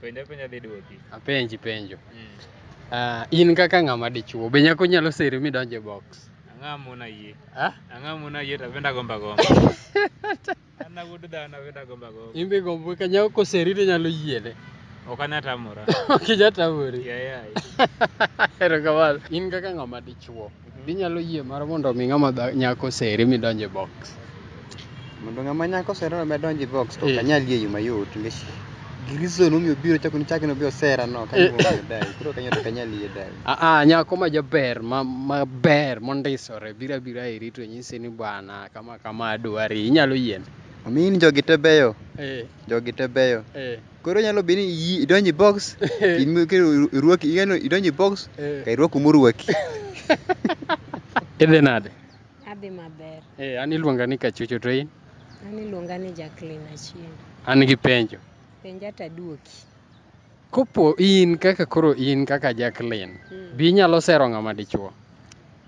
Penjo penjo dhi duoki. Apenji penjo. Mm. Uh, in kaka ng'ama dichuo, be nyako nyalo seri midonje box? Ang'a mona yie. Ah? Ang'a mona yie to benda gomba gomba. Ana wuod dhano benda gomba gomba. Imbe gombo ka nyako koseri to nyalo yiene. Ok anya tamora. ok anya tamori. Yeah, yeah. Erokamano. In kaka ng'ama dichuo. Inyalo yie mar mondo mi ng'ama dha- nyako seri midonje box. Mondo ng'ama nyako sera no medonji box to Eh. kanyal yie yuma yot nikech reason omiyo biro chako ni chakno bi osera no kanyo Eh. omiyo dai. Koro kanyo to kanyal yie dai. Ah, ah, nyako ma jaber ma maber mondisore bira bira iri to nyisi ni bwana kama kama adwari inyalo yien. Omiyi ni jogi te beyo, Eh, jogi te beyo. eh. Koro nyalo bedo ni iyi- idonjo e box, in- kendo irwaki, ing'eno idonjo e box, Eh. ka irwako morwaki. Idhi nade? Adhi maber. Eh, an iluonga ni Kachucho to in? An iluonga ni Jacqueline Achieng'. An gi penjo. Penja to aduoki. Kopo in kaka koro in kaka Jacqueline, Mm. bi inyalo sero ng'ama dichuo?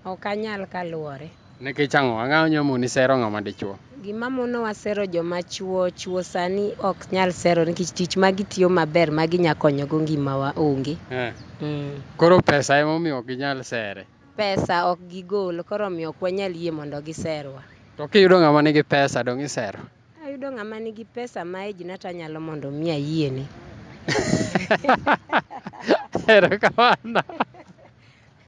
Ok anyal kaluwore. Nikech ang'o? Ang'o ma nyamoni sero ng'ama dichwo? Gima monowa sero joma chwo, chwo sani ok nyal sero nikech tich ma gitiyo maber ma ginya konyogo ngimawa onge. Eh. Mm. Koro pesa ema omiyo ok ginyal sere. Pesa ok gigol, koro omiyo ok wanyal yie mondo giserwa. To kiyudo ng'ama nigi pesa dong' isero? Ayudo ng'ama nigi pesa ma ejna to anyalo mondo mi ayiene. Erokamano.